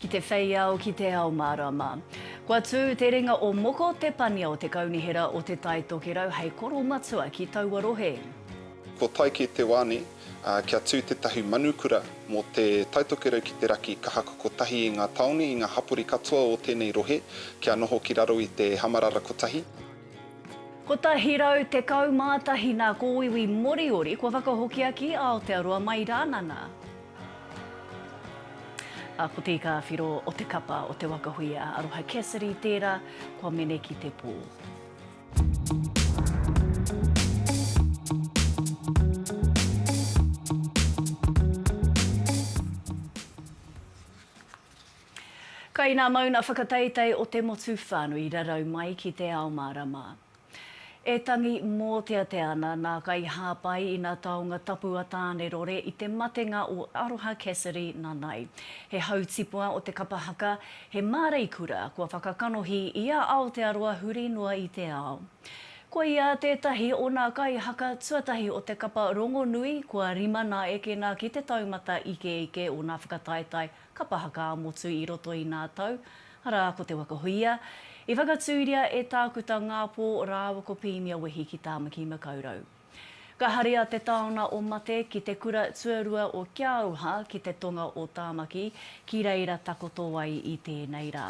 Ki te whei ao, ki te ao mārama. Kua tū te ringa o Moko, te pania o te Kaunihera o Te Tai Tokerau hei koro matua ki taua rohe. Ko Taike Te Wani, ā, kia tū tētahi manukura mō Te Tai Tokerau ki te raki ka haku kotahi i ngā tāone, i ngā hapori katoa o tēnei rohe, kia noho ki raro i te Hamarara Kotahi. 111 nā kōiwi Moriori kua whakahokia ki Aotearoa mai rāna nā. A ko Te Ika a Whiro o te kapa o te waka hui a Aroha Cassidy tērā kua mene ki te pō. Kai nā mauna whakateitei o te motu whānui rarau mai ki te ao mārama. E tangi mōteatea ana nā kai hāpai ina taonga tapu a Tānerore i te matenga o Aroha Cassidy nanai. He hautipua o te kapa haka, he māreikura kua whakakanohi i a Aotearoa huri noa i te ao. Ko ia tētahi o nā kai haka tuatahi o te kapa rongonui kua rima nā ekena ki te taumata ikeike o nā whakataetae Kapa haka ā-motu i roto i nā tau, arā, ko Te Waka Huia, i whakatūria e Tākuta Ngāpō rāua ko Pīnia Wehi ki Tāmaki Makaurau. Ka haria te taona o Mate ki te kura tuarua o Kia Aroha ki te tonga o Tāmaki, ki reira takoto ai i tēnei rā.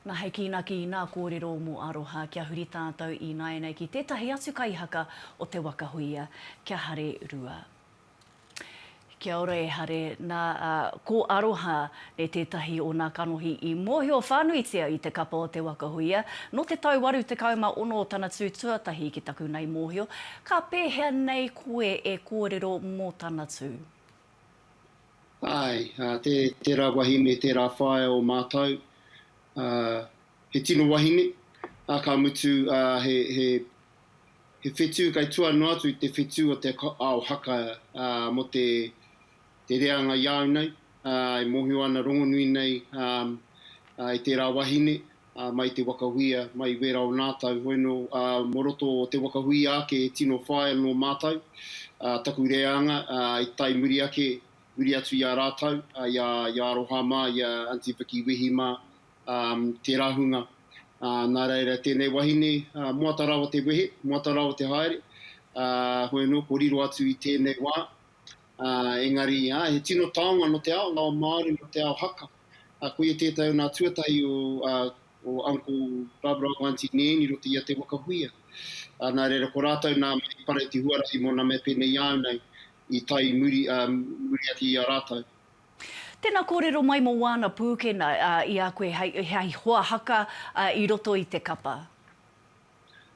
Nā, hei kīnaki i nā kōrero mō Aroha, kia huri tātou ināianei ki tētahi atu kaihaka o Te Waka Huia, kia Hare Rua. Kia ora e Hare. Na, ko Aroha e tetahi o na kanohi i mohio whanuitia i te kapa o Te Waka Huia. No te tau waru tekau ma ono tana tu tuatahi ki taku nai mohio. Ka pehea nei koe e korero mo tana tu? Ae, tera wahine, tera whaea o matou. He tino wahine, a ka mutu he He whetū kai tua noa atu i te whetū o te ao haka mō te reanga i a au nei, e mōhio ana rongonui nei e tērā wahine mai i te wakahuia, mai i wērā o nātau, hoino mō roto o te wakahuia ake e tino whaia nō mātau taku reanga i tae muri ake, muri atu i a rātau, i a Aroha mā, i a Aunty Vickie Wehi mā, tērā hunga. Nā reira, tēnei wahine, moata rawa te wehe, moata rawa te haere, hoi anō, ko riro atu i tēnei wā, engari, āe, he tino taonga nō te ao, nō te ao Māori, nō te ao haka. Koia tētahi o nā tuatahi o Uncle Barbara o Aunty Nan i roto i a Te Wakahuia. Nā reira, ko rātou nā Mate Paraiti Huarahi mō nā mea pēnei i a au nei i tae i muri, muri ake i a rātou. Tēnā kōrero mai mō wāna pūkena i a koe hei hoa haka i roto i te kapa.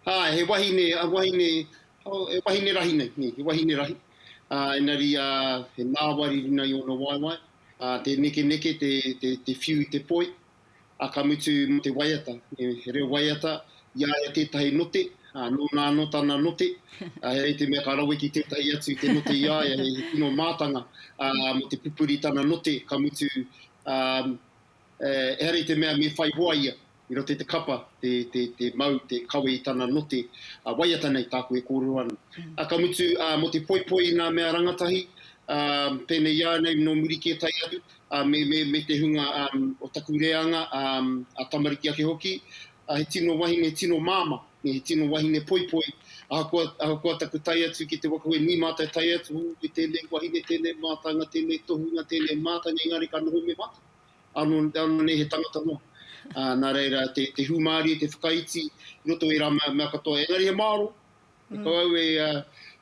Āe, he wahine, wahine, oh, he wahine rahi nei, nē, he wahine rahi. Ā, engari, ā, he ngāwari runga i ōna waewae, ā, te nekeneke, te, te, te whiu i te poi. ā, ka mutu mō te waiata, he reo waiata, i a ia tētahi note, ā, nōna anō tana note, ā, he rei te mea ka rawe ki tētahi atu te note i a ia, he tino mātanga, ā, mō te pupuri tana note, ka mutu, ā, ehara i te mea me whai hoa ia i roto i te kapa, te, te, te mau, te kawe i tana note, ā, waiata nei tāku e kōrero ana. Ā, ka mutu, ā, mō te poipoi i ngā mea rangatahi, ā, pēnei i a nei nō muri kē tae atu, me te hunga o taku reanga a tamariki ake hoki, he tino wahine tino māmā, he tino wahine poipoi, ahakoa taku tae atu ki te waka koe nui mātou e tae atu, hou koe tēnei wahine, tēnei mātanga, tēnei tohunga, tēnei mātanga, engari ka noho me mātou, ānō nei he tangata noa. Nā reira, te hūmārie, te whakaiti i roto i ērā mea katoa, engari he māro, He tau au e,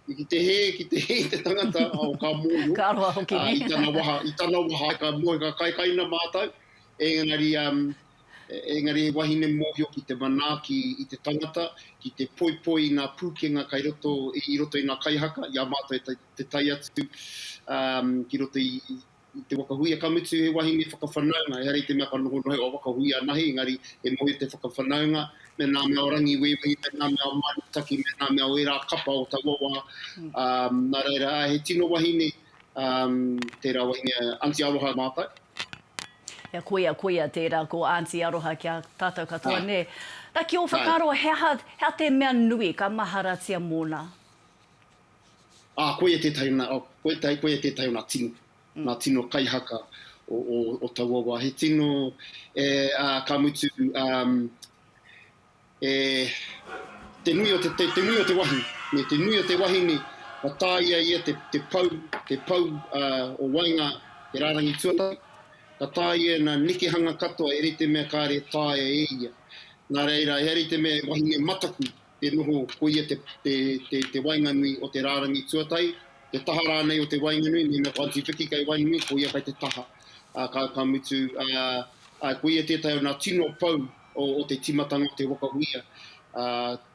i ki te hē, ki te hē i te tangata o kā mōhio. Ka roa hoki, nē? I tana waha, i tana waha, ka mōhio, ka kaikaina mātou, engari, engari he wahine mōhio ki te manaaki i te tangata, ki te poipoi i ngā pūkenga kai roto, i roto i ngā kaihaka, i a mātou e te tai atu ki roto i, i te wakahuia, ka mutu he wahine whakawhanaunga, ehara i te mea ka nohonoho o wakahuia anahe, engari he moe te whakawhanaunga, me ngā mea o Rangiwewehi, me ngā mea o Mānutaki, me ngā mea o ērā kapa o taua wā, ā, nā reira, ā, he tino wahine, ā, tērā wahine a Aunty Aroha mātou. Ia, koia, koia tērā, ko Aunty Aroha ki a tātou katoa, nē. Nā, ki ō whakaaro, he aha, he aha te mea nui ka maharatia mōna? Ā, koia tētahi nā, koia, koia tētahi o nā tino, nā tino kaihaka o, o, o taua wā. He tino, e, ā, ka mutu, ā, e, te nui o te, te, te nui o te wahine, me te nui o te wahine, ka tāia ia te, te pau, te pau ā, o waenga te rārangi tuatahi, ka tāia nā nekehanga katoa e rite mea kāre e taea e ia. Nā reira, e rite mea e wahine mataku, te noho, koia te, te, te, te waenganui o te rārangi tuatahi, te taha rānei o te waenganui, mēnā ko Aunty Vicky kei waenganui, koia kei te taha. Ā, ka, ka mutu, ā, ā, koia tētahi o nā tino pou o, o te tīmatanga o te waka uia. Ā,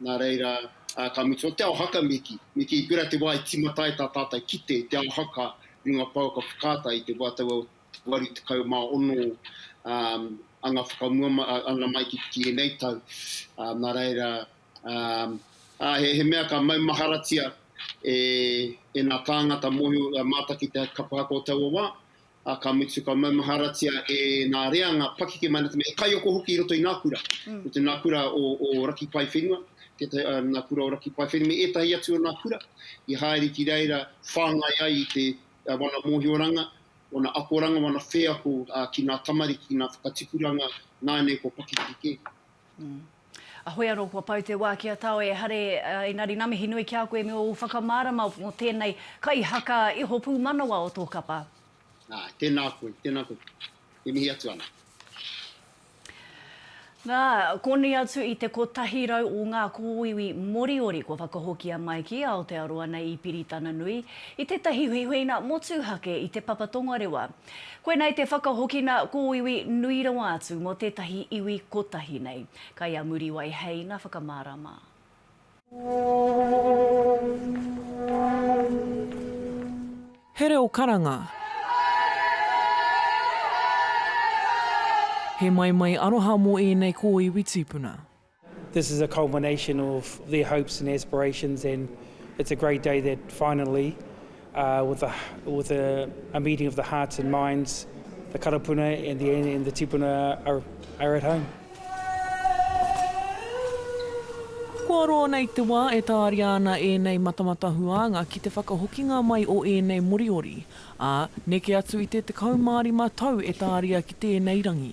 nā reira, ā, ka mutu, o te ao haka me kī, me kī, pērā te wā i tīmata ai tā tātou kite i te ao haka, runga pau ka whakaata i te wā taua o, 86 anga whakamua ana mai ki ēnei tau, nā reira, he mea ka maumaharatia e ngā tāngata mōhio mātaki te kapa haka o taua wā, ā, ka mutu ka maumaharatia e ngā reanga pakeke mai ana, he kaiako hoki i roto i ngā kura, i roto i ngā kura o Raki Pae Whenua, ngā kura o Raki Pae Whenua me ētahi atu o ngā kura i haere ki reira whāngai ai i te. wana mōhioranga, wana akoranga, wana wheako ki ngā tamariki, ki ngā whakatipuranga nāianei kua pakeke kē. Ahoi anō kua pau te wā ki a Tawe, ehare, engari nā mihi nui ki a koe me ōu whakamārama mō tēnei kaihaka iho pūmanawa o tō kapa. Āe, tēnā koe, tēnā koe. e mihi atu ana. Nā, konei atu i te kotahi rau o ngā kōiwi Moriori kua whakahokia mai ki Aotearoa nei i Piritana Nui, i tētahi huihuinga motuhake i te papa tongarewa. Koinei te whakahokina kōiwi nui rawa atu mō tētahi iwi kotahi nei. Kai a Muriwai Hei ngā whakamārama. He reo karanga. He maimai aroha mō ēnei kōiwi tīpuna. This is a culmination of their hopes and aspirations and it's a great day that finally Uh, with, a, with a, a meeting of the hearts and minds, the karapuna and the, and the tipuna are, are at home. Kua roa nei te wā e tāria ana ēnei matamata huānga ki te whakahokinga mai o ēnei Moriori, ā, neke atu i te 15 tau e tāria ki tēnei rangi.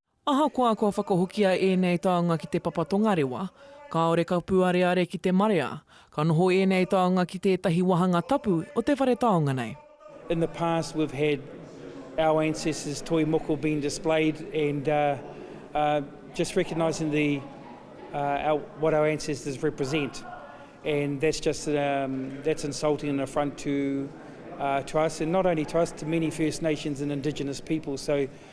Ahakoa kua whakahokia ēnei taonga ki te papa tongarewa, kāore ka pūareare ki te marea, ka noho ēnei taonga ki tētahi wāhanga tapu o te whare taonga nei. In the past we've had our ancestors toi moko being displayed and just recognising the what our ancestors represent and that's just that's insulting and affront to us and not only to us to many First Nations and Indigenous people so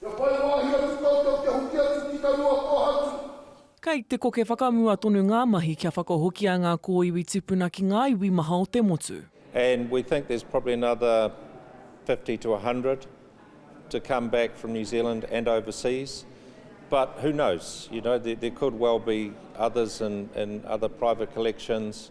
Kia whai wāhi atu koutou kia hoki atu ki taua kōhatu. Kei te koke whakamua tonu ngā mahi kia whakahokia ngā kōiwi tupuna ki ngā iwi maha o te motu. And we think there's probably another fifty to a hundred to come back from New Zealand and overseas, but who knows, you know, there could well be others in other private collections.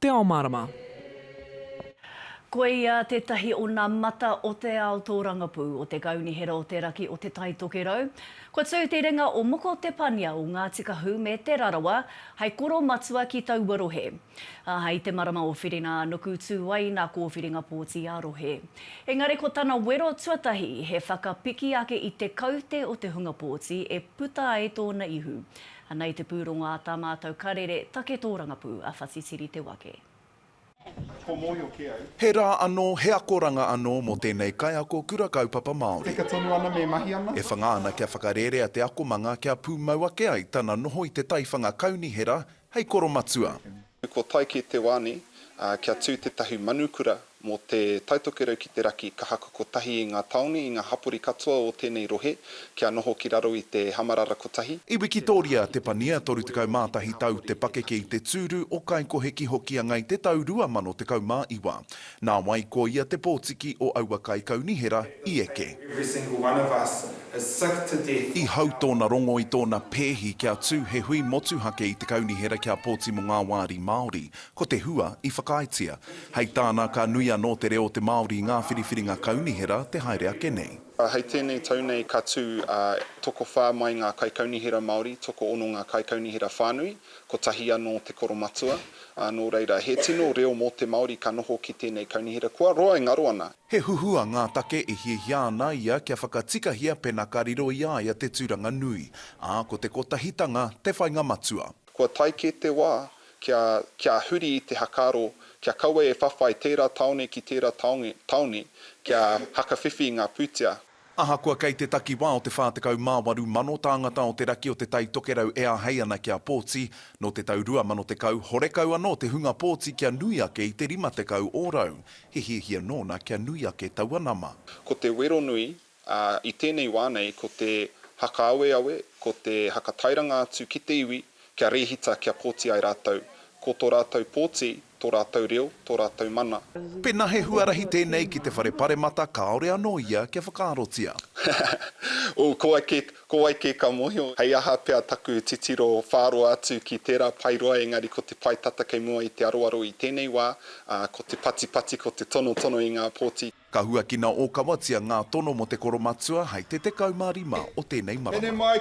Te Ao Mārama. Koia tētahi o nā mata o te ao tōrangapū, o te kaunihera o te raki o Te Tai Tokerau. Kua tū te ringa o Moko Te Pania o Ngāti Kahu me Te Rarawa hai koro matua ki taua rohe. Ā, hai te marama o Whirinānuku tū ai nā kōwhiringa pōti ā-rohe. Engari ko tana wero tuatahi he whakapiki ake i te kaute o te hunga pōti e puta ai tōna ihu. Ana i te pūrongo a tā mātou karere take tōrangapū a Whatitiri Te Wake. He rā anō, he akoranga anō mō tēnei kaiako Kura Kaupapa Māori. E whanga ana kia whakarērea te akomanga kia pūmau ake ai tana noho i te taiwhanga kaunihera hei koromatua. Ko Taiki te wāni, ā, kia tū tētahi manukura mō te Taitokerau ki te Raki ka haku kotahi i ngā tāone, i ngā hapori katoa o tēnei rohe, kia noho ki raro i te Hamarara Kotahi. I Wikitōria te Pania, 31 tau te pakeke i te tūru o Kaikohe ki Hokianga i te tau 2019. Nā wai ko ia te pōtiki o aua kaikaunihera i eke? Every single one of us is sick to death of I hau our tōna rongo i tōna pēhi kia tū he hui motuhake i te kaunihera kia pōti mō ngā wāri Māori. Ko te hua i whakaaetia. Hei tāna, ka nui anō te reo o te Māori i ngā whiriwhiringa kaunihera te haere ake nei. Hei tēnei tau nei ka tū tokowhā mai ngā kaikaunihera Māori, tokoono ngā kaikaunihera whānui, kotahi anō te koromatua, ā, nō reira, he tino reo mō te Māori ka noho ki tēnei kaunihera kua roa e ngaro ana. He huhua ngā take e hiahia ana ia kia whakatikahia pēnā ka riro i a ia te tūranga nui, ā, ko te kotahitanga te whainga matua. Kua tae kē te wā kia, kia huri i te hakaaro kia kawe e whawhai tērā tāone ki tērā tāone, tāone kia hakawhiwhi ngā pūtea. Ahakoa kei te takiwā o te 48 mano tāngata o te raki o Te Tai Tokerau e āhei ana kia pōti, nō te tau 2010, horekau anō te hunga pōti kia nui ake i te 50 ōrau. He hiahia nōna kia nui ake taua nama. Ko te wero nui, ā, i tēnei wā nei, ko te hakaaweawe, ko te hakatairanga atu ki te iwi kia rēhita kia pōti ai rātou. Ko tō rātou pōti, Tō rātou reo, tō rātou mana. Pēnā he huarahi tēnei ki te Whare Paremata kāore anō ia kia whakaarotia. Ō, ko wai kē, ko wai kē ka mōhio hei aha pea taku titiro whāroa atu ki tērā pae roa engari ko te pae tata kei mua i te aroaro i tēnei wā, ā, ko te patipati, ko te tonotono i ngā pōti. Ka huakina ōkawatia ngā tono mō te koromatua hei te 15 o tēnei marama.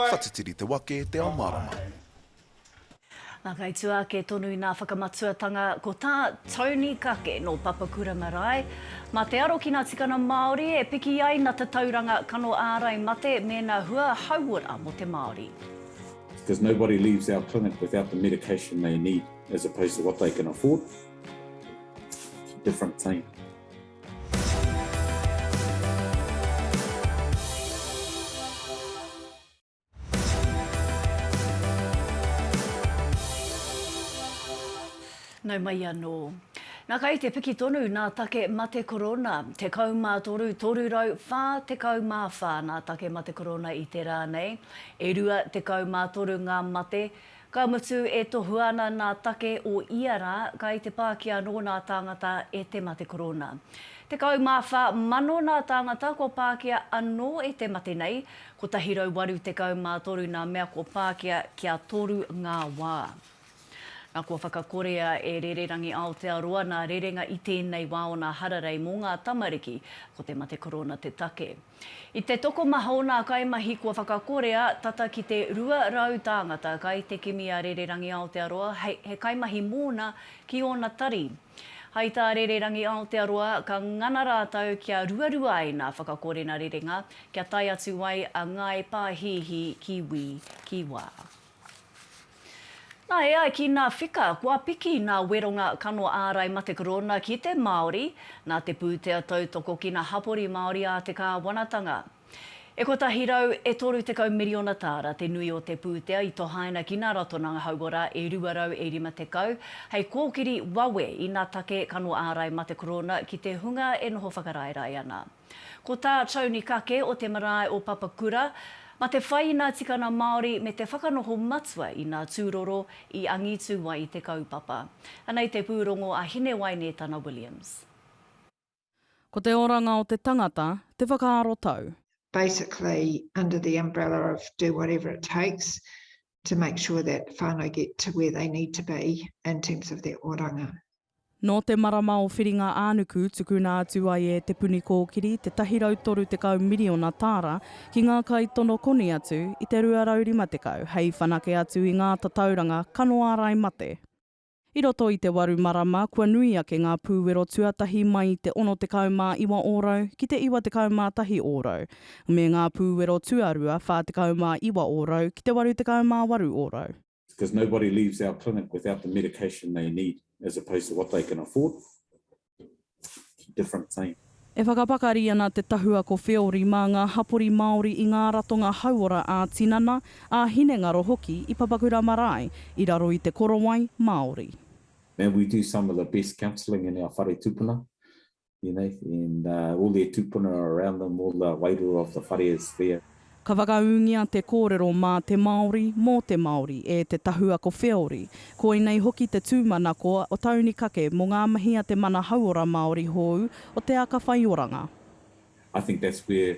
Whatitiri te wake, te ao marama. Nā, kai tua ake tonu nā Whakamatuatanga, ko tā Tony Kake nō Papakura marae, mā te aro ki nā tikana Māori e piki ai na tatauranga kano ārai mate mēna hua hauora mō te Māori. Because nobody leaves our clinic without the medication they need as opposed to what they can afford. It's a different thing. Nau mai anō. Nā kai te piki tonu nā take mate korona, 13 344 nā take mate korona i te rā nei, e 23 ngā mate, Ka mutu e tohua ana nā take o ia rā, kai te pāki anō nā tāngata e te mate korōna. Tekau mā whā mano nā tāngata kua pākia anō e te mate nei, 183 nā mea kua pākia kia toru ngā wā. Nā kua whakakorea e Rererangi Aotearoa nā rerenga i tēnei wā o nā hararei mō ngā tamariki, ko te mate korōna te take. I te tokomaha o nā kaimahi kua whakakorea tata ki te 200 tāngata kai te kimi a Rererangi Aotearoa hei he kaimahi mōna ki ōna tari. Hai tā Rererangi Aotearoa ka ngana rātau kia ruarua ai nā whakakorena rerenga kia tae atu ai a Ngāi Pāhihi ki wī, ki wā. Na, e ai ki na Whika, kua piki na Weronga Kano Ārai Mate Korona ki te Māori, na te pūtea tautoko ki na hapori Māori a te Kāwanatanga. E kotahi rau, e toru tekau miriona tāra te nui o te pūtea i tohaina ki na Ratonanga Hauora e rua rau e rima tekau, hei kōkiri wawe i na take Kano Ārai Mate Korona ki te hunga e noho whakaraerae ana. Ko tā Tony Kake o te marae o Papakura, Ma te whai i nā tikana Māori me te whakanoho matua i nā tūroro i angitū ai te kaupapa. Anei te pūrongo a Hinewaine Tana Williams. Ko te oranga o te tangata te whakaaro tau. Basically under the umbrella of do whatever it takes to make sure that whānau get to where they need to be in terms of their oranga. Nō te marama o Whiringa-ā-nuku tukuna atu ai e Te Puni Kōkiri te 130 miriona tāra ki ngā kaitono koni atu i te 250 hei whanake atu i ngā tatauranga kano ārai mate. I roto i te waru marama kua nui ake ngā pūwero tuatahi mai i te 69 ōrau ki te 91 ōrau, me ngā pūwero tuarua 49 ōrau ki te 88 ōrau. It's because nobody leaves our clinic without the medication they need as opposed to what they can afford. Different thing. E whakapakari ana te tahua ko Wheori mā ngā hapori Māori i ngā ratonga hauora ā-tinana, ā-hinengaro hoki i Papakura Marae i raro i te korowai Māori. Now we do some of the best counselling in our whare tupuna. You know, and uh, all their tupuna are around them, all the wairua of the whare is there. Ka whakaūngia te kōrero mā te Māori, mō te Māori, e te tahua ko Wheori. Koinei hoki te tūmanako o Tauni Kake mō ngā mahi a te mana hauora Māori hōu o Te Aka Whaioranga. I think that's where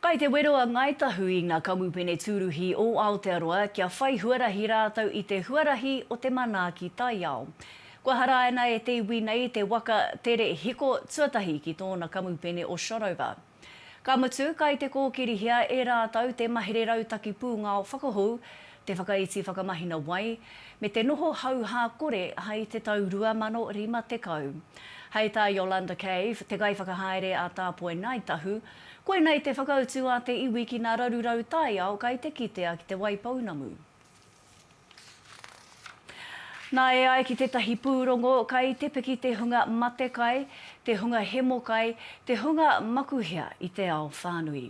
Kai te wero a Ngāi Tahu i ngā kamupene tūruhi o Aotearoa kia whai huarahi rātou i te huarahi o te manaaki taiao. Kua haraina e te iwi nei te waka tere hiko tuatahi ki tōna kamupene o Shotover. Ka mutu, kai te kōkirihia e rātou te mahere rautaki pūngao whakahou, te whakaiti whakamahina wai, me te noho hauhā kore hai te tau 2050. Hai tā Yolanda Cave, te kaiwhakahaere a Tāpoi Ngāi Tahu, koinei te whakautu a te iwi ki ngā rarurau taiao kai te kitea ki Te Waipounamu. Nā, e ai ki tētahi pūrongo, kai te piki te hunga matekai, te hunga hemokai, te hunga makuhea i te ao whānui.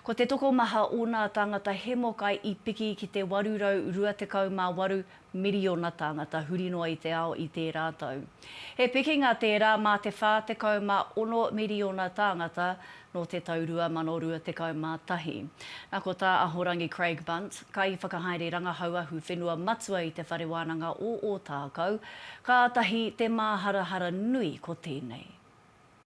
Ko te tokomaha o nā tāngata Hemokai i piki ki te 828 miriona tāngata huri noa i te ao i tērā tau. He pikinga tērā mā te 46 miriona tāngata nō te tau 2021. Nā ko Tā Ahorangi Craig Bunt, Kaiwhakahaere Rangahau Ahu Whenua Matua i te Whare Wānanga o Ōtākou, Kātahi te māharahara nui ko tēnei.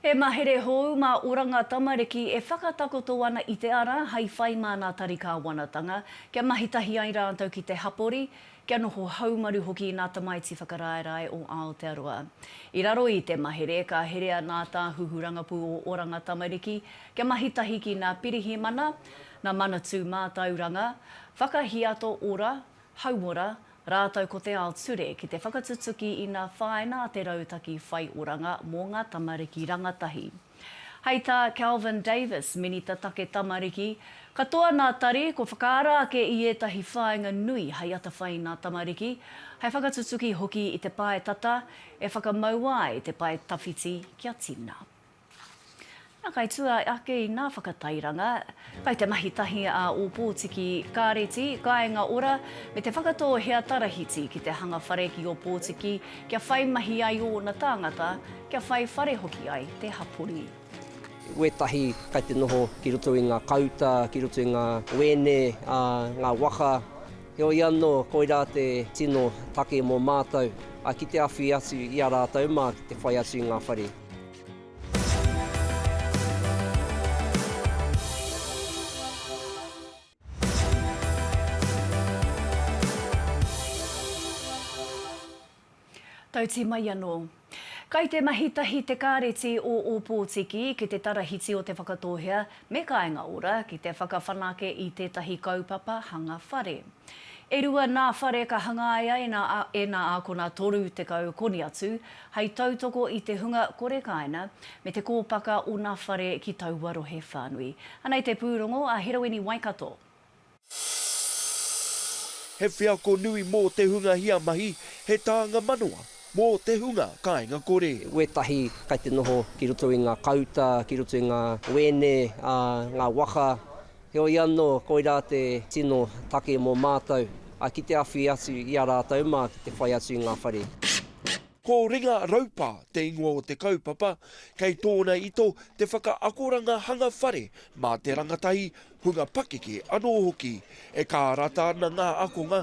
He mahere hou mā Oranga Tamariki e whakatakoto ana i te ara hai whai mā nā Tari Kāwanatanga kia mahi tahi ai rātou ki te hapori, kia noho haumaru hoki nā Tamaiti Whakaraerae o Aotearoa. I raro i te mahere ka herea nā Tāhuhu Rangapū o Oranga Tamariki kia mahi tahi ki nā Pirihimana, nā Manatū Mātauranga, Whakahiato Ora, Hauora, rātou ko te ao ture ki te whakatutuki i nā whāina a te Rautaki Whai Oranga mō ngā Tamariki Rangatahi. Hei tā Kelvin Davis, Minita Take Tamariki, Katoa nā Tari kua whakaara ake i ētahi whāinga nui hei atawhai i nā tamariki, hei whakatutuki hoki i te pae tata e whakamau ai te pae tawhiti kia tina. Nā, kai tua ake i ngā whakatairanga, kai te mahi tahi a Ōpōtiki Kāreti, Kāinga Ora, me Te Whakatō Hea Tarahiti ki te hanga whare ki Ōpōtiki kia whai mahi ai ōna tāngata, kia whai whare hoki ai te hapori. Wētahi kai te noho ki roto i ngā kauta, ki roto i ngā wēne, ā, ngā waka. Heoi anō, koirā te tino take mō mātou, ā, ki te awhi atu i a rātou mā ki te whai atu i ngā whare. Tauti mai anō. Kai te mahi tahi te Kāreti o Ōpōtiki ki te Tarahiti o Te Whakatōhea me Kāinga Ora ki te whakawhanake i tētahi kaupapa hanga whare. E rua nā whare ka hangaia e nā ākona 30 koni atu, hei tautoko i te hunga kore kāina me te kōpaka o nā whare ki taua rohe whānui. Anei te pūrongo a Heroini Waikato. He wheako nui mō te hunga hia mahi, he tānga manawa mō te hunga kāinga kore. Wētahi kai te noho ki roto i ngā kauta, ki roto i ngā wēne, ā, ngā waka, Heoi anō, koirā te tino take mō mātou, ki te awhi atu i a rātou mā ki te whai atu i ngā whare. Ko Ringa Raupa te ingoa o te kaupapa, kei tōna ito te whakaakoranga hanga whare mā te rangatahi, hunga pakeke anō hoki. E kārata ana ngā akonga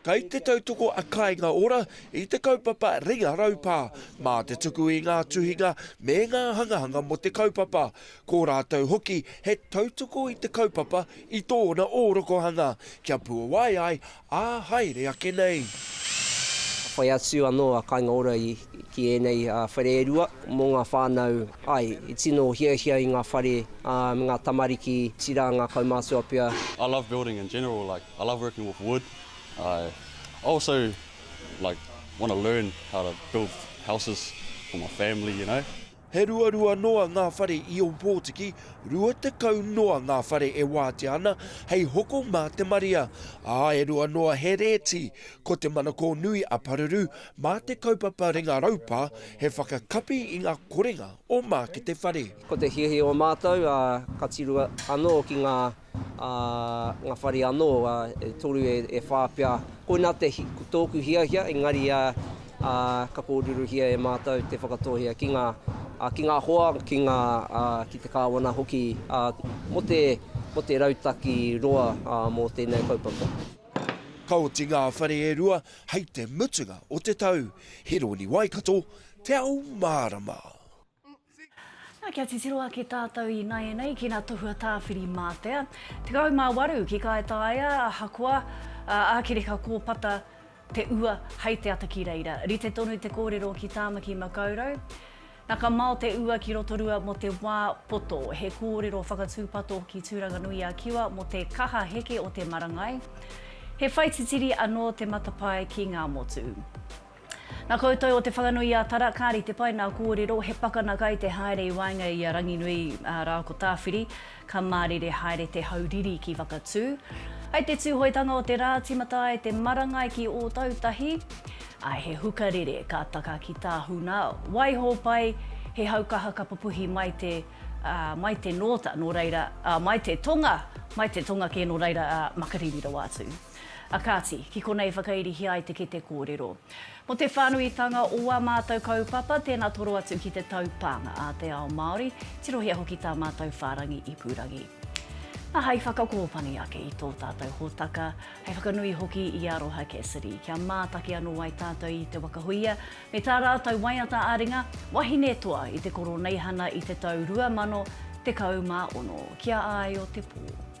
Kei te tautoko a Kāinga Ora i te kaupapa Ringa Raupā mā te tuku i ngā tuhinga me ngā hangahanga mō te kaupapa. Ko rātou hoki he tautoko i te kaupapa i tōna ōrokohanga kia puawai ai ā haere ake nei. Ka whai atu anō a Kāinga Ora ki ēnei whare e rua mō ngā whānau, āe, i tino hiahia i ngā whare me ngā tamariki, tira ngā kaumātua pea. I love building in general, like I love working with wood, I also like want to learn how to build houses for my family, you know. He ruarua noa ngā whare i Ōpōtiki, 20 noa ngā whare e wātea ana hei hoko mā te marea, ā, e rua noa he rēti. Ko te manakō nui a Paruru mā te kaupapa Ringa Raupa he whakakapi i ngā korenga o Mākete Whare. Ko te hiahia o mātou, ka tiru anō ki ngā ā, ngā whare anō, ā, e toru, e, e whā pea. Koinā te hi, ko tōku hiahia, engari, ā, ā, ka kōrerohia e mātou te whakatōhea ki ngā, ā, ki ngā hoa, ki ngā, ā, ki te kāwana hoki, ā, mō te, mō te rautaki roa, ā, mō tēnei kaupapa. Ka oti ngā whare e rua hei te mutunga o te tau. Hironi Waikato, Te Ao Mārama. Na, kia titiro ake tātou ināianei ki nā Tohua Tāwhiri Mātea, 18 ki Kaitaia, ahakoa, ā, ākereka kōpata te ua hei te ata ki reira. Rite tonu te kōrero ki Tāmaki Makaurau, na ka mao te ua ki Rotorua mō te wā poto. He kōrero whakatūpato ki Tūranganui-a-Kiwa mō te kaha heke o te marangai. He whaititiri anō te matapae ki ngā motu. Na koutou o Te Whanganui-a-Tara kari te pai na korero he pakana kai te haere i waenga i a Ranginui ra ko Tawhiri ka marire haere te hau riri ki Whakatu ai te tuhoitanga o te ra timata ai te marangai ki Otautahi ai he huka rere ka taka ki Tahuna waiho pai he hau kaha ka pupuhi mai te mai te nota no reira mai te tonga mai te tonga ke no reira makariri rawa atu. A kāti, ki konei i whakairihia ai te kete kōrero. Mō te whānuitanga o ā mātou kaupapa, tēnā toro atu ki te taupānga a te ao Māori, tirohia hoki tā mātou whārangi ipurangi. Nā, hei whakakōpani ake i tō tātou hōtaka, hei whakanui hoki i Aroha Cassidy, kia mātaki anō ai tātou i Te Waka Huia me tā rātou waiata ā-ringa, wahine toa i te Koroneihana i te tau 2016, ki a Āio Te Pō.